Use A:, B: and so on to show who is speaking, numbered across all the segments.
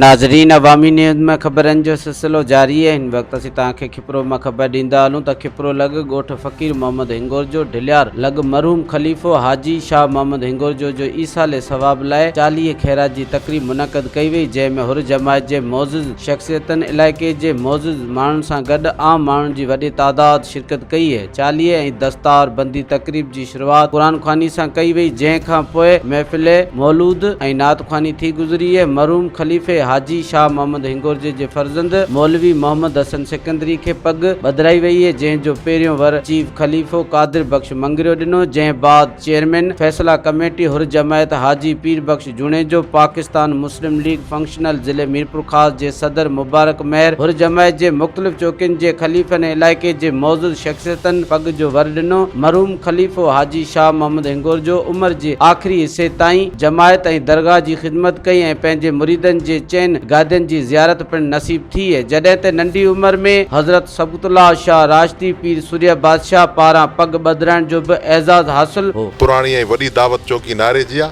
A: ناظرين عوامي نيوز ۾ خبرن جو سلسلو جاري آهي هن وقت اسين توهان کي کپرو مان خبر ڏيندا هلون ته کپرو لڳ ڳوٺ فقير محمد هنگورجو ڍليار لڳ مرحوم خليفو حاجي شاهه محمد هنگورجو جو ايصال ثواب لاء چاليهه خيرات جي تقريب منعقد ڪئي وئي جنهن ۾ حر جماعت جي معزز شخصيتن علائقي جي معزز ماڻهن سان گڏ عام ماڻهن جي وڏي تعداد شرڪت ڪئي چاليهي ۽ دستار بندي تقريب جي شروعات قرآن خواني سان ڪئي وئي جنهن کان پوء محفل مولود ۽ نعت خواني ٿي گذري مرحوم خليفي حاجي شاهه محمد هنگورجي جي فرزند مولوي محمد حسن سڪندري کي پڳ ٻڌرائي وئي جنهن جو پهريون ور چيف خليفو قادر بخش مڱريو ڏنو جنهن بعد چيئرمين فيصله ڪميٽي حرجمعيت حاجي پير بخش جوڻيجو، پاڪستان مسلم ليگ فنڪشنل ضلعي ميرپورخاص جي صدر مبارڪ مهر، حرجمعيت جي مختلف چوڪين جي خليفن ۽ علائقي جي معزز شخصيتن پڳ جو ور ڏنو، مرحوم خليفو حاجي شاهه محمد هنگورجو عمر جي آخري حصي تائين جماعت ۽ درگاهه جي خدمت ڪئي ۽ پنهنجي مريدن جي چئن گادين جي زيارت پڻ نصيب ٿي جڏهن ته ننڍي عمر ۾ حضرت سبقت الله شاهه راشدي پير سرهيه بادشاهه پاران پڳ ٻڌرائڻ جو به اعزاز حاصل هو. پراڻي ۽ وڏي دعوت
B: چوڪي ناري جي آ.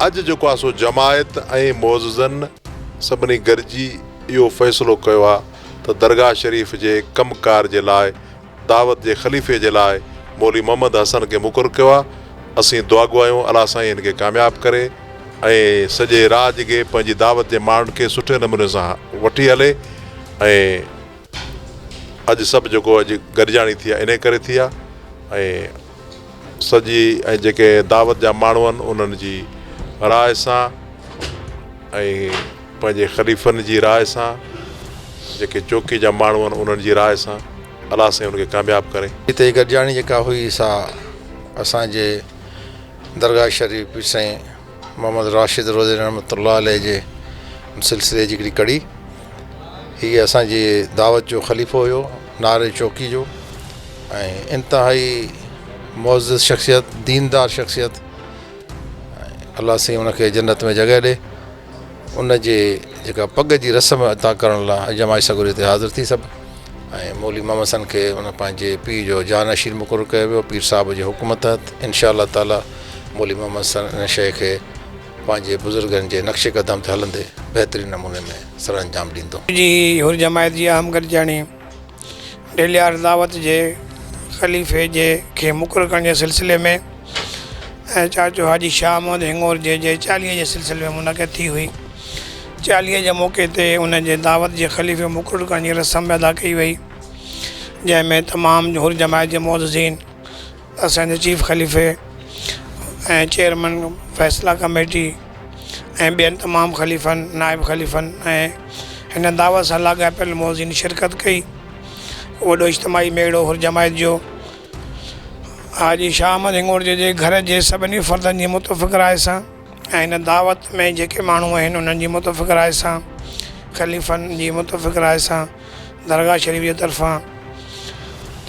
B: اڄ جيڪو آ سو جماعت ۽ معززن سڀني گڏجي اهو فيصلو ڪيو آ ته درگاهه شريف جي ڪم ڪار جي لاء دعوت جي خليفي جي لاء مولوي محمد حسن کي مقرر ڪيو آ اسين دعاگو آهيون الله سائين هن کي ڪامياب ڪري ۽ سڄي راڄ کي پنهنجي دعوت جي ماڻهن کي سٺي نموني سان وٺي هلي. ۽ اڄ سڀ جيڪو اڄ گڏجاڻي ٿي آهي انهي ڪري ٿي آهي ۽ سڄي ۽ جيڪي دعوت جا ماڻهو آهن انهن جي راء سان ۽ پنهنجي خليفن جي راء سان جيڪي چوڪي جا ماڻهو آهن انهن جي راء سان الله سائين ان کي ڪامياب ڪري. هتي هي گڏجاڻي جيڪا
C: هئي سا اسان جي درگاهه شريف پير سائين محمد راشد روضي رحمة الله عليه جي سلسلي جي هڪڙي ڪڙي هي اسان جي دعوت جو خليفو هيو ناري چوڪي جو ۽ انتهائي معزز شخصيت ديندار شخصيت الله سائين ان کي جنت ۾ جڳهه ڏي ان جي جيڪا پڳ جي رسم ادا ڪرڻ لاء اڄ جماعت سڳوري تي حاضر ٿي سڀ ۽ مولي محمد سن کي ان پنهنجي پيء جو جانشين مقرر ڪيو ويو پير صاحب جي حڪم تحت انشاء الله تعاليٰ مولي محمد سن ان شيء کي پنهنجي بزرگن جي نقش قدم تي هلندي بهترين نموني ۾ سرانجام ڏيندو. جي حر جماعت
D: جي اهم گڏجاڻي ڏيلهيار دعوت جي خليفي جي کي مقرر ڪرڻ جي سلسلي ۾ ۽ چاچو حاجي شاهه محمد هڱور جي جي چاليهي جي سلسلي ۾ منعقد ٿي هئي. چاليهي جي موقعي تي ان جي دعوت جي خليفي مقرر ڪرڻ جي رسم ادا ڪئي وئي جنهن ۾ تمام حر جماعت جي معززين، اسان جي چيف خليفي ۽ چيئرمن فيصلا ڪميٽي ۽ ٻين تمام خليفن نائب خليفن ۽ هن دعوت سان لاڳاپيل معزين شرڪت ڪئي وڏو اجتماعي ميڙو هر جماعت جو حاجي شاهه احمد هنڱورجي جي گهر جي سڀني فردن جي متفق راء سان ۽ هن دعوت ۾ جيڪي ماڻهو آهن انهن جي متفق راء سان خليفن جي متفق راء سان درگاهه شريف جي طرفان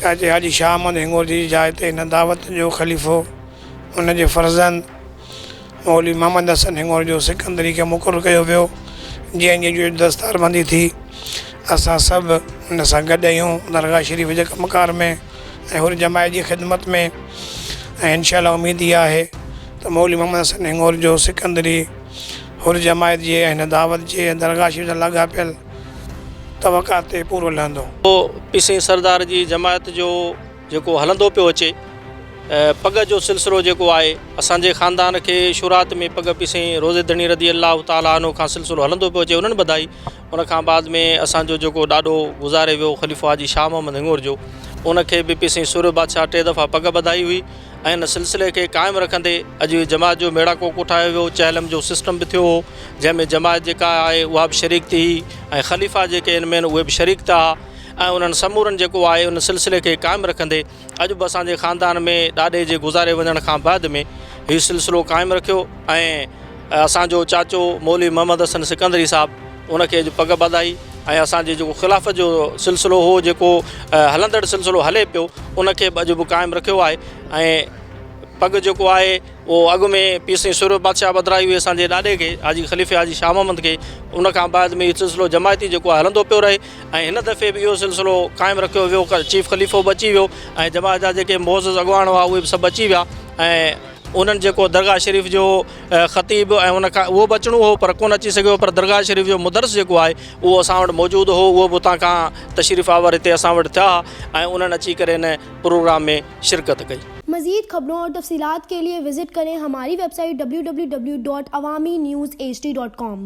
D: چاچي حاجي شاهه احمد هنگورجي جي جاء تي هن دعوت جو خليفو هن جي فرزند مولوي محمد حسن هنگورجو سڪندري کي مقرر ڪيو ويو جنهن جي اڄ دستاربندي ٿي اسان سڀ هن سان گڏ اهيون درگاهه شريف جي ڪم ڪار ۾ ۽ حر جماعت جي خدمت ۾ ۽ انشاء الله اميد اها آهي ته مولوي محمد حسن هنگورجو سڪندري حر جماعت جي ۽ هن دعوت جي ۽ درگاهه شريف سان لاڳاپيل توقع تي پورو لهندو. اهو پيسئين
E: سردار جي جماعت جو جيڪو هلندو پيو اچي پڳ جو سلسلو جيڪو آهي اسان جي خاندان کي شروعات ۾ پڳ پيسئين روضي ڌڻي رضي الله تعالٰي عنه کان سلسلو هلندو پيو اچي انهن ٻڌائي ان کان بعد ۾ اسان جو جيڪو ڏاڏو گذاري ويو خليفو حاجي شاهه محمد هڱور جو ان کي به پيسئين سورهيه بادشاهه ٽي دفعا پڳ ٻڌائي هئي ۽ ان سلسلي کي قائم رکندي اڄ اهي جماعت جو ميڙاڪو ڪوٺايو ويو چهلم جو سسٽم به ٿيو هو جنهن ۾ جماعت جيڪا آهي اها به شريڪ ٿي هئي ۽ خليفا جيڪي ان مين اهي به شريڪ ٿا ۽ انهن سمورن جيڪو آهي ان سلسلي کي قائم رکندي اڄ به اسان جي خاندان ۾ ڏاڏي جي گذاري وڃڻ کان بعد ۾ هي سلسلو قائم رکيو ۽ اسان جو چاچو مولوي محمد حسن سڪندري صاحب ان کي اڄ پڳ ٻڌائي ۽ اسان جي جيڪو خلافت جو سلسلو هو جيڪو هلندڙ سلسلو هلي پيو ان کي به اڄ به قائم رکيو آهي ۽ پڳ جيڪو آهي اهو اڳ ۾ پير سائين سورڀ بادشاهه ٻڌرائي هئي اسان جي ڏاڏي کي حاجي خليفي حاجي شاهه محمد کي ان کان بعد ۾ هي سلسلو جماعتي جيڪو آهي هلندو پيو رهي ۽ هن دفعي به اهو سلسلو قائم رکيو ويو چيف خليفو به اچي ويو ۽ جماعت جا جيڪي معزز اڳواڻ هئا اهي به سڀ اچي ويا ۽ انهن جيڪو درگاهه شريف جو خطيب ۽ ان کان اهو به اچڻو هو پر ڪونه اچي سگهيو پر درگاهه شريف جو مدرس جيڪو آهي اهو اسان وٽ موجود هو اهو به اتان کان تشريف آور هتي اسان وٽ ٿيا ۽ انهن اچي ڪري ان پروگرام ۾ شرڪت ڪئي. مزيد خبرون اور
F: تفصيلات کے لئے وزٽ کرين ھماري ويب سائيٽ www.awaminews hd.com.